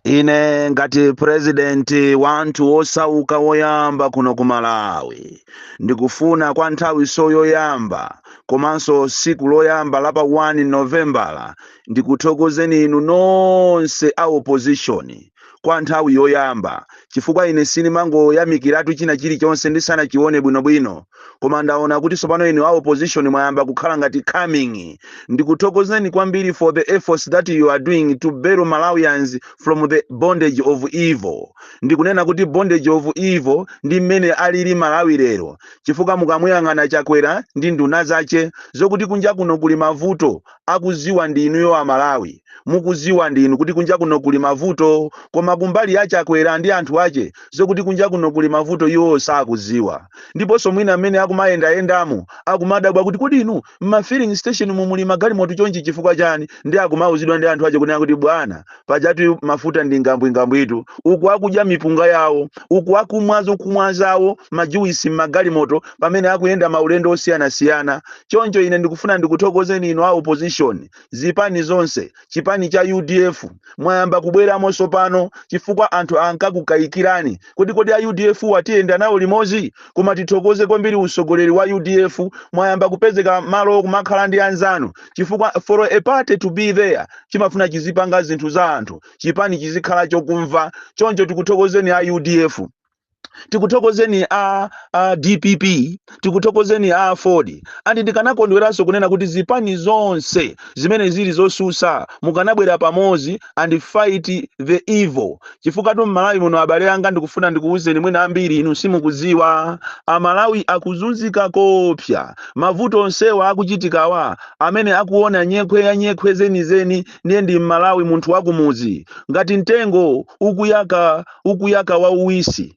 Ine ngati president wa anthu osauka woyamba kuno ku Malawi, ndikufuna kwa nthawiso yoyamba komanso siku loyamba la pa 1 Novembala ndikuthokozeni inu nonse a opposition kwa nthawi yoyamba chifukwa ine sinimangoyamikiratu china chilichonse ndisanachione bwinobwino, koma ndaona kuti tsopano inu a opposition mwayamba kukhala ngati coming ndikuthokozeni kwambiri for the efforts that you are doing to bail malawians from the bondage of evil ndikunena kuti bondage of evil ndi mmene alili malawi lero chifukwa mukamuyang'ana chakwera ndi nduna zache zokuti kunja kuno kuli mavuto akuziwa ndi inuyo amalawi mukuziwa ndinu kuti kunja kuno kuli mavuto koma kumbali ya chakwera ndi anthu ache zokuti kunja kuno kuli mavuto iwowo sakuziwa ndiponso mwina mmene akumayendayendamu akumadabwa kuti kodi inu m'ma filling station mu muli magalimoto chonchi chifukwa chani ndi akumauzidwa ndi anthu ache kunena kuti bwana pajatu mafuta ndi ngambwingambwitu uku akudya mipunga yawo uku akumwa zokumwa zawo majuwisi m'magalimoto pamene akuyenda maulendo osiyanasiyana choncho ine ndikufuna ndikuthokozeni inu a opposition zipani zonse chipani cha udf mwayamba kubweramo tsopano chifukwa anthu ankakukayikirani kodi kodi a udf awa tiyenda nawo limodzi koma tithokoze kwambiri utsogoleri wa udf mwayamba kupezeka malo kumakhala ndi anzanu chifukwa for a party to be there chimafuna chizipanga zinthu za anthu chipani chizikhala chokumva choncho tikuthokozeni a udf tikuthokozeni a, a dpp tikuthokozeni a aford andi ndikanakondweranso kunena kuti zipani zonse zimene zili zosusa mukanabwera pamodzi and fight the evil chifukwatu mmalawi muno abale anga ndikufuna ndikuwuzeni mwina ambiri inu simukudziwa amalawi akuzunzika koopsa mavuto onsewa akuchitikawa amene akuona nyekhwe ya nyekhwe zenizeni ndiye ndi mmalawi munthu wakumudzi ngati mtengo ukuyaka wauwisi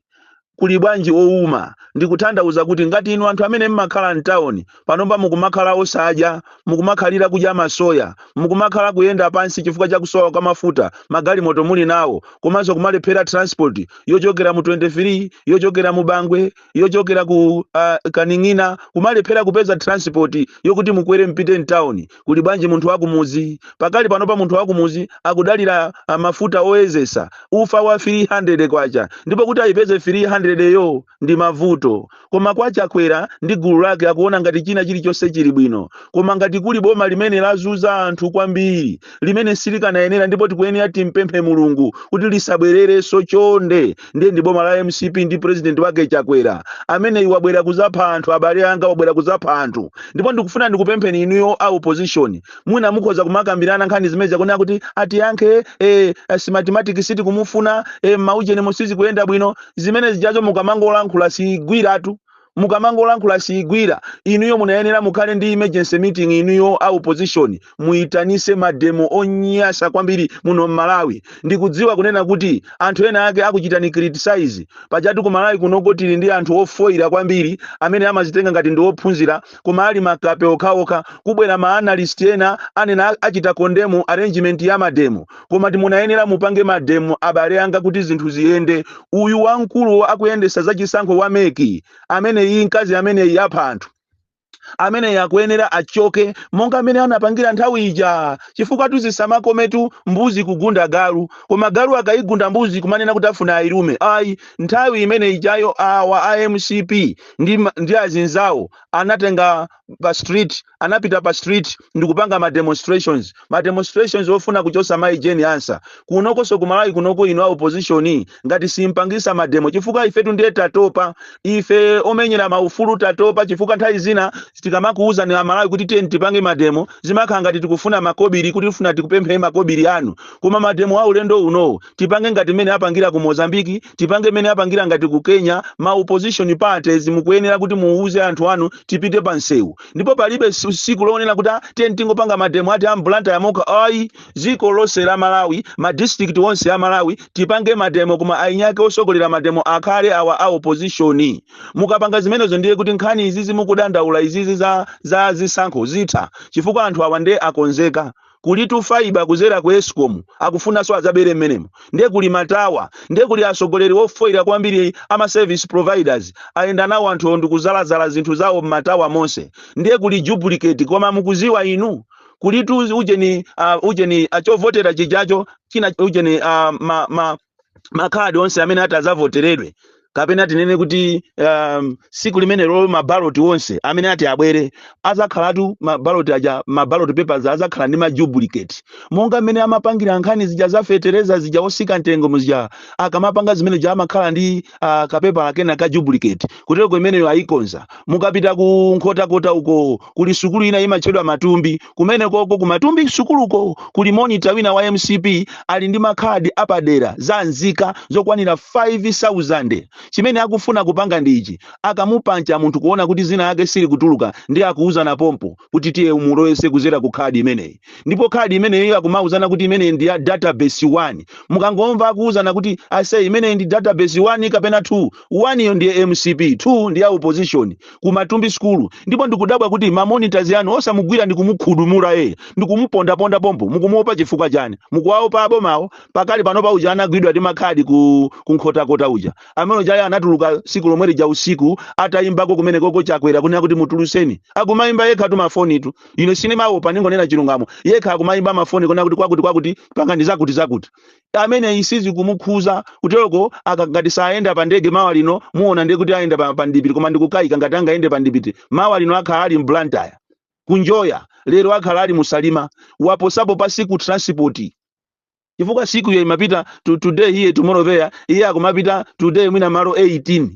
kuli bwanji owuma? Ndikutanthauza kuti ngati inu anthu amene mmakhala mtauni, panopa mukumakhala osadya, mukumakhalira kudya masoya, mukumakhala kuyenda pansi chifukwa cha kusowa kwa mafuta, magalimoto muli nawo, komanso kumalephera transport yochokera mu 23, yochokera mu Bangwe, yochokera ku, uh, Kaning'ina, kumalephera kupeza transport yokuti mukwere mpite mtauni. kuli bwanji munthu wakumuzi pakali panopa munthu wakumuzi akudalira ah, mafuta oyezesa ufa wa 300 kwacha ndipo kuti ayipeze 300 yo ndi mavuto koma kwa chakwera ndi gulu lake akuona ngati china chilichonse chili bwino koma ngati kuli boma limene lazuza anthu kwambiri limene silikanayenera ndipo tikuyenera timpemphe mulungu kuti lisabwererenso chonde ndiye ndi boma la mcp ndi president wake chakwera ameneyi wabwera kuzapha anthu abale anga wabwera kuzapha anthu ndipo ndikufuna ndikupempheni inuyo a opposition mwina mukhoza kumakambirana nkhani zimene zakunena kuti atiyankhe eh, Smartmatic sitikumufuna eh, maujeni mu sizikuyenda bwino zimene zijazo mukamangolankhula sigwiratu mukamangolankhula siigwira inuyo munayenera mukhale ndi emergency meeting inuyo a opposition muitanise mademo onyasa kwambiri muno mmalawi ndikudziwa kunena kuti anthu ena ake akuchitani criticize pajatu ku malawi kunoko tili ndi anthu ofoira kwambiri amene amazitenga ngati ndi ophunzira koma ali makape okhaokha kubwera ma analyst enaenana achita condemn arrangement ya mademo koma tu munayenera mupange mademo abale anga kuti zinthu ziyende uyu wamkulu wo akuyendesa za chisankho wa MEC ameneyi mkazi ameneyi apha anthu ameneyi akuyenera achoke monga mmene anapangira nthawi ija chifukwa tu zisamakometu mbuzi kugunda galu koma galu akayigunda mbuzi kumanena kuti afuna ayilume ayi nthawi imene ijayo awa a mcp ndi, ma- ndi azinzawo anatenga pa street anapita pa street ndikupanga ma demonstrations ma demonstrations ofuna kuchosa mai Jane Ansah kunokoso ku malawi kunoko inu a opposition ngati simpangisa mademo chifukwa ifetu ndiye tatopa ife omenyera maufulu tatopa chifukwa nthawi zina tikamakuwuzani amalawi kuti tipange mademo zimakhala ngati tikufuna makobiri kuti tifuna tikupempheni makobiri anu koma mademo a ulendo unowo tipange ngati mmene apangira ku mozambiki tipange mmene apangira ngati ku kenya ma opposition parties mukuyenera kuti muuze anthu anu tipite pa msewu ndipo palibe si- siku lonena kuti "Ah, tingopanga mademo athu a mu Blantyre mokha ayi dziko lonse la malawi ma district onse a malawi tipange mademo koma eni ake osogolera mademo akhale awa a opposition mukapanga zimenezo ndiye kuti nkhani izizi mukudandaula izizi za, za zisankho zitha chifukwa anthu awa nde akonzeka kulitu fibre kuzera ku escom akufunaso azabere mmenemo nde kuli ma tower nde kuli asogoleri ofoira kwambiri ama service providers ayenda nawo anthuwo ndikudzaladzala zinthu zawo mma tower monse nde kuli duplicate koma mukuziwa inu kulitu ujeni uh, ujeni achovotera chijacho china ujeni uh, ma, ma, makhadi onse amene ati adzavoteredwe kapena tinene kuti um, siku limenelo mabaloti onse amene ati abwere adzakhalatu mabaloti aja mabaloti papers adzakhala ndi ma duplicate monga mmene amapangira nkhani zija za feteleza zija osika mtengo muzija akamapanga zimene zija amakhala ndi uh, kapepala kena ka duplicate koteroko imeneyo ayikonza mukapita ku nkhotakota uko kuli sukulu ina imatchedwa matumbi Kumenekoko ku Matumbi sukuluko kuli monitor wina wa mcp ali ndi makhadi apadera za nzika zokwanira 5000. Chimene akufuna kupanga ndi ichi, akamupancha munthu kuona kuti zina lake silikutuluka ndiye akuuzana pompo kuti tiye umulowese kuzera ku khadi imeneyi ndipo khadi imeneyo akumauzana kuti imeneyi ndi ya database 1. Mukangomva akuuzana kuti aise imeneyi ndi database 1 kapena 2 1 yo ndiye mcp 2 ndi ya opposition ku matumbi sukulu ndipo ndikudabwa kuti ma monitors anu osamugwira ndi kumukhudumura eye ndi kumupondaponda pompo mukumuopa chifukwa chani mukuwaopa abomawo pakali panopa uja anagwidwa ndi makhadi ku, ku nkhotakota uja amene ujayo anatuluka siku lomwe lija usiku atayimbako kumene koko chakwera kunena kuti mutuluseni akumayimba yekha tu mafoni tu ine sindimaopa ningonena chilungamo yekha akumayimba mafoni kunena kuti kwakuti kwakuti pangani zakuti zakuti ameneyi sizikumukhuza kuteroko akangati sayenda pa ndege mawa lino muona ndiye kuti ayenda pa, pa ndipiti koma ndikukayika ngati angayende pa ndipiti mawa lino akhala ali mu Blantyre kunjoya lero akhala ali mu Salima waposapo pa Siku transport chifukwa Siku iyo imapita to, today here tomorrow there iye akumapita today mwina malo 18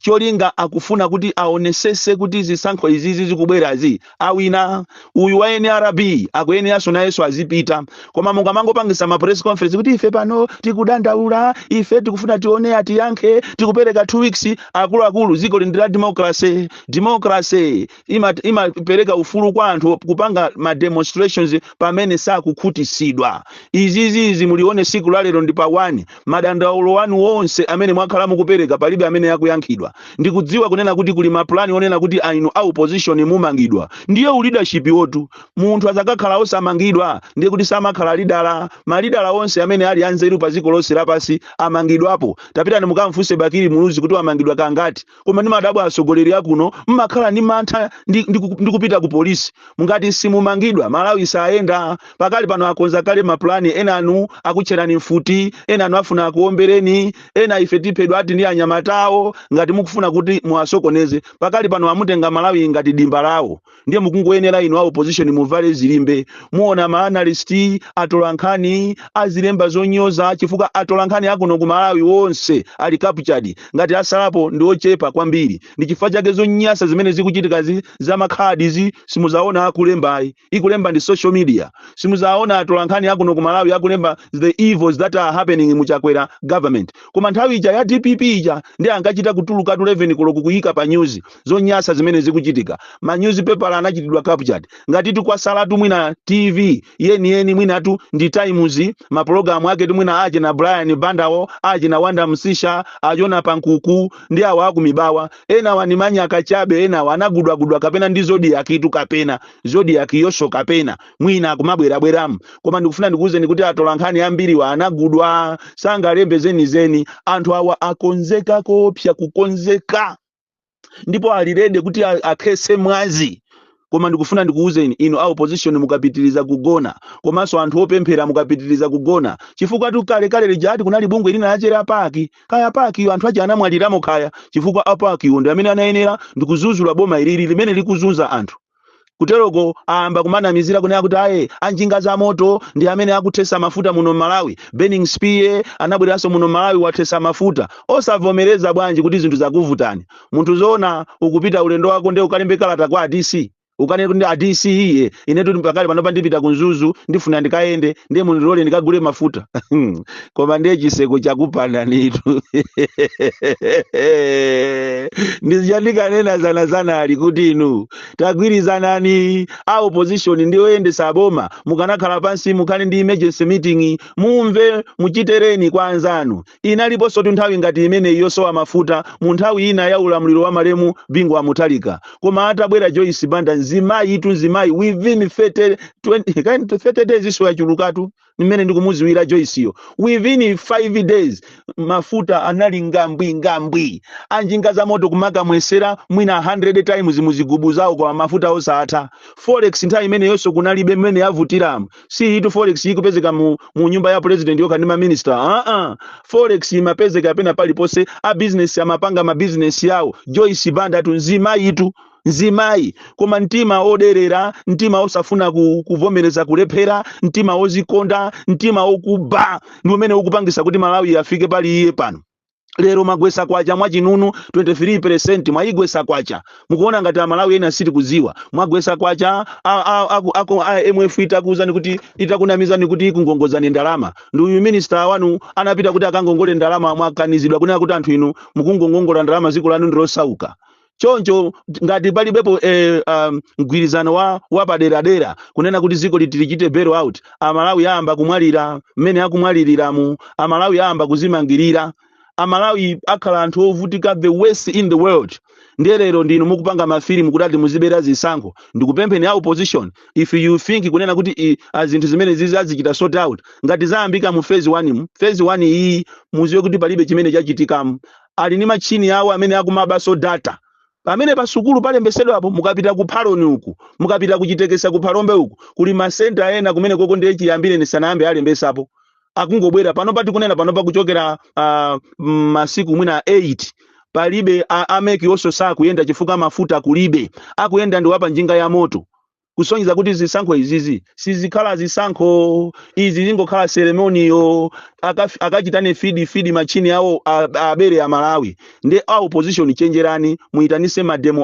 cholinga akufuna kuti aonesese kuti zisankho izizi zikubwerazi awina uyu wa nrb akuyeneranso nayenso azipita koma mukamangopangisa ma press conference kuti ife pano tikudandaula ife tikufuna tione atiyankhe tikupereka 2 weeks akuluakulu dziko lino ndi la democracy democracy ima- imapereka ufulu kwa anthu kupanga ma demonstrations pamene sakukhutitsidwa izizizi mulione siku la lero ndi pa 1 madandaulo anu wonse amene mwakhala mukupereka palibe amene akuyankhidwa ndikudziwa kunena kuti kuli mapulani onena kuti inu a opposition mumangidwa ndiye uleadership wo tu munthu azakakhala osamangidwa ndiye kuti samakhala lidala malidala onse amene ali anzeru pa dziko lonse lapansi amangidwapo tapitani mukamfunse bakili muluzi kuti wamangidwa kangati koma ndimadabwa atsogoleri akuno mmakhala ndi mantha ndi, ndi, ku- ndi kupita ku polisi ngati simumangidwa malawi sayenda pakali pano akonza kale mapulani enanu akutcherani mfuti enanu afuna akuombereni ena ife tiphedwa ati ndi anyamatawo ngati mukufuna kuti muwasokoneze pakali pano amutenga malawi ngati dimba lawo ndiye mukungoyenera inu a opposition muvale zilimbe muona ma analyst atolankhani azilemba zonyoza chifukwa atolankhani akuno ku malawi onse ali captured ngati asalapo ndi ochepa kwambiri ndi chifukwa chake zonyasa zimene zikuchitikazi za makhadizi simuzaona akulemba ayi ikulemba ndi social media simuzaona atolankhani akuno ku malawi akulemba the evils that are happening mu chakwera government koma nthawi ija ya dpp ija ndiye ankachita kutulukatu 11 koloko kuyika pa news zonyasa zimene zikuchitika ma newspaper anachitidwa captured ngatitu kwatsalatu mwina tv yeniyeni mwinatu ndi times mapulogalamu aketu mwina aje na brian bandawo aje na wonder msiska a jonah pankuku ndi awo akumibawa enawa ni manyaka chabe enawa anagudwagudwa kapena ndi zodiak itu kapena zodiak yonso kapena mwina akumabwerabweramu koma ndikufuna ndikuwuzeni kuti atola nkhani ambiriwa anagudwa sangalembe zenizeni anthu awa akonzeka koopsa kukonzeka ndipo ali ready kuti a- akhetse mwazi koma ndikufuna ndikuwuzeni inu a opposition mukapitiriza kugona komanso anthu opemphera mukapitiriza kugona chifukwa tu kale kale lijatu kunali bungwe lina lija a pac kaya a pac iyo anthu aja anamwaliramo kaya chifukwa a pac iwo ndi amene anayenera ndikuzuzula boma ilili limene likuzunza anthu kuteloko ayamba kumanamizira kunena kuti aye anjinga za moto ndi amene akuthesa mafuta muno m'malawi burning spear anabwereranso muno m'malawi wathesa mafuta osavomereza bwanji kuti zinthu zakuvutani munthu zoona ukupita ulendo wako nde ukalembe kalata kwa a dc ukanene kuti a dc iye inetu pakali panopa ndipita ku mzuzu ndifuna ndikayende ndiye mundilole ndikagule mafuta koma ndiye chitseko chakupanani tu ndizija ndikanena dzanadzanali kuti inu tagwirizanani a opposition ndi oyendetsa boma mukanakhala pansi mukhale ndi emergency meeting mumve muchitereko kwa anzanu inaliponso tu nthawi ngati imeneyi yosowa mafuta mu nthawi ina ya ulamuliro wa malemu bingu wa mutharika koma atabwera joyce banda mzimayi tu mzimayi within 30 20 kind of 30 days izo zachulukatu mmene ndikumudziwira joyisiyo within 5 days mafuta anali ngambwi ngambwi anjinga za moto kumakamwetsera mwina 100 times muzigubu zawo koma mafuta osatha forex nthawi imeneyonso kunalibe mmene yavutiramu si itu forex ikupezeka mu, mu nyumba ya president yokha ndi maminista aa forex imapezeka pena paliponse a business amapanga mabizinesi yawo joyce bandatu mzimayitu mzimayi koma mtima oderera mtima osafuna ku- kuvomereza kulephera mtima ozikonda mtima okuba ndi umene ukupangisa kuti malawi afike pali iye pano lero mwagwetsa kwacha mwachinunu 23 mwayigwetsa kwacha mukuona ngati amalawife sitikudziwa mwagwetsa kwacha a- a- aku- aku- a- imf itakuuzani kuti itakunamizani kuti ikungongozani ndalama ndi uyu minista wanu anapita kuti akangongole ndalama mwakanidwa kunena kuti anthu inu mukungongongola ndalama dziko lanu ndilosauka choncho ngati palibepo eh, um, mgwirizano wapaderadera kunena kuti dziko litichite bail out amalawi ayamba kumwalira mmene akumwaliriramu amalawi ayamba kuzimangirira amalawi akhala anthu ovutika the worst in the world ndiye lero ndinu mukupanga mafilimu kuti ati muzibera zisankho ndikupempheni a opposition if you think kunena kuti i- a zinthu zimenezizi azichita sort out ngati zayambika mu phase 1 mu phase 1 iyi mudziwe kuti palibe chimene chachitikamu ali ndi matchini awo amene akumabanso data pamene pa sukulu palembetsedwapo mukapita ku phaloni uku mukapita ku Chitekesa ku Phalombe uku kuli masenta ena kumene koko ndiye chiyambire sanayambe alembetsapo akungobwera panopa tikunena panopa kuchokera ah, mm, masiku mwina 8 palibe a- a MEC iwonso sakuyenda chifukwa mafuta kulibe akuyenda ndi wapa njinga ya moto kusonyeza kuti zisankho izizi sizikhala zisankho izi zingokhala seremoniyo Akaf- akachitane fidi fidi machini awo a- abere Amalawi ndi a opposition chenjerani muyitanise mademo